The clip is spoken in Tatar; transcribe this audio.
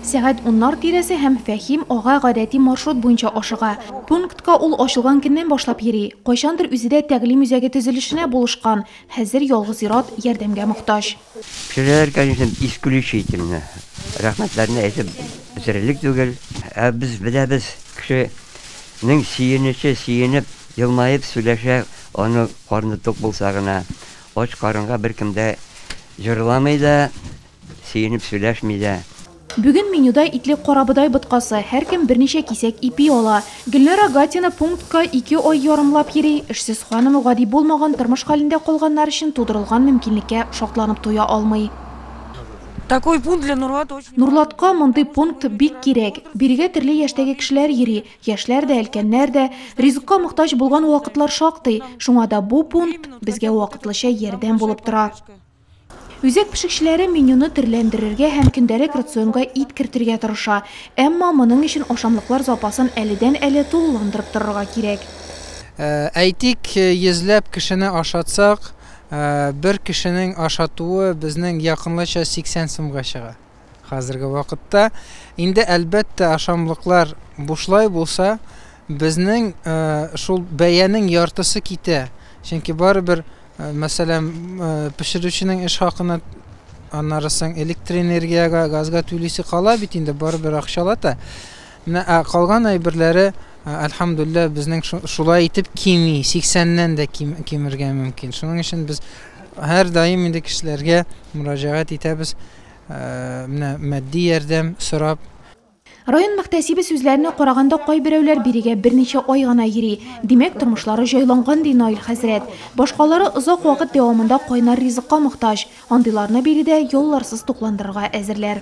Сәгать уннар тирәсе һәм Фәһим ага гадәти маршрут буенча ашыга. Пунктка ул ачылган көннән башлап йөри. Кайчандыр үзе дә тәгълим үзәге төзелешенә булышкан, хәзер ялгыз ир-ат ярдәмгә мохтаҗ. Кешеләр, конечно, исключий итеп менә рәхмәтләрен әйтеп бетерерлек түгел. Ә без беләбез, кешенең сөенече, сөенеп, елмаеп сөйләшә, аның карны тук булса гына. Ач карынга беркем дә җырламый да, Сөенеп сөйләшми дә. Бүген менюда итле карабодай боткасы, һәркем берничә кисәк ипи ала. Гөлнара Гатина пунктка ике ай ярымлап йөри. Эшсез ханым гади булмаган тормыш хәлендә калганнар өчен тудырылган мөмкинлеккә шатланып туя алмый. Нурлатка мондый пункт бик кирәк. Бирегә төрле яшьтәге кешеләр йөри, яшьләр дә, өлкәннәр дә. Ризыкка мохтаҗ булган вакытлар шактый. Шуңа да бу пункт безгә вакытлыча ярдәм булып тора. Үзәк пешекчеләре менюны төрләндерергә һәм көндәлек рационга ит кертергә тырыша. Әмма моның өчен ашамлыклар запасын әледән-әле тулыландырып торырга кирәк. Әйтик, йөзләп кешене ашатсак, бер кешенең ашатуы безнең якынлыча 80 сумга чыга. Хәзерге вакытта инде әлбәттә ашамлыклар бушлай булса, безнең шул бәянең яртысы китә. Чөнки барыбер, мәсәлән, пешерүченең эш хакына, аннары соң электроэнергиягә, газга түлисе кала бит инде, барыбер акчалата. Менә ә калган әйберләре, альхамдулилла, безнең шулай итеп кими, 80-нән дә кимергә мөмкин. Шуның өчен без һәрдаим инде кешеләргә мөрәҗәгать итәбез. Менә матди ярдәм сорап. Район мөхтәсибе сүзләренә караганда, кайберәүләр бирегә берничә ай гына йөри. Димәк, тормышлары җайланган, ди Наил хәзрәт. Башкалары озак вакыт дәвамында кайнар ризыкка мохтаҗ. Андыйларны биредә ялларсыз тукландырырга әзерләр.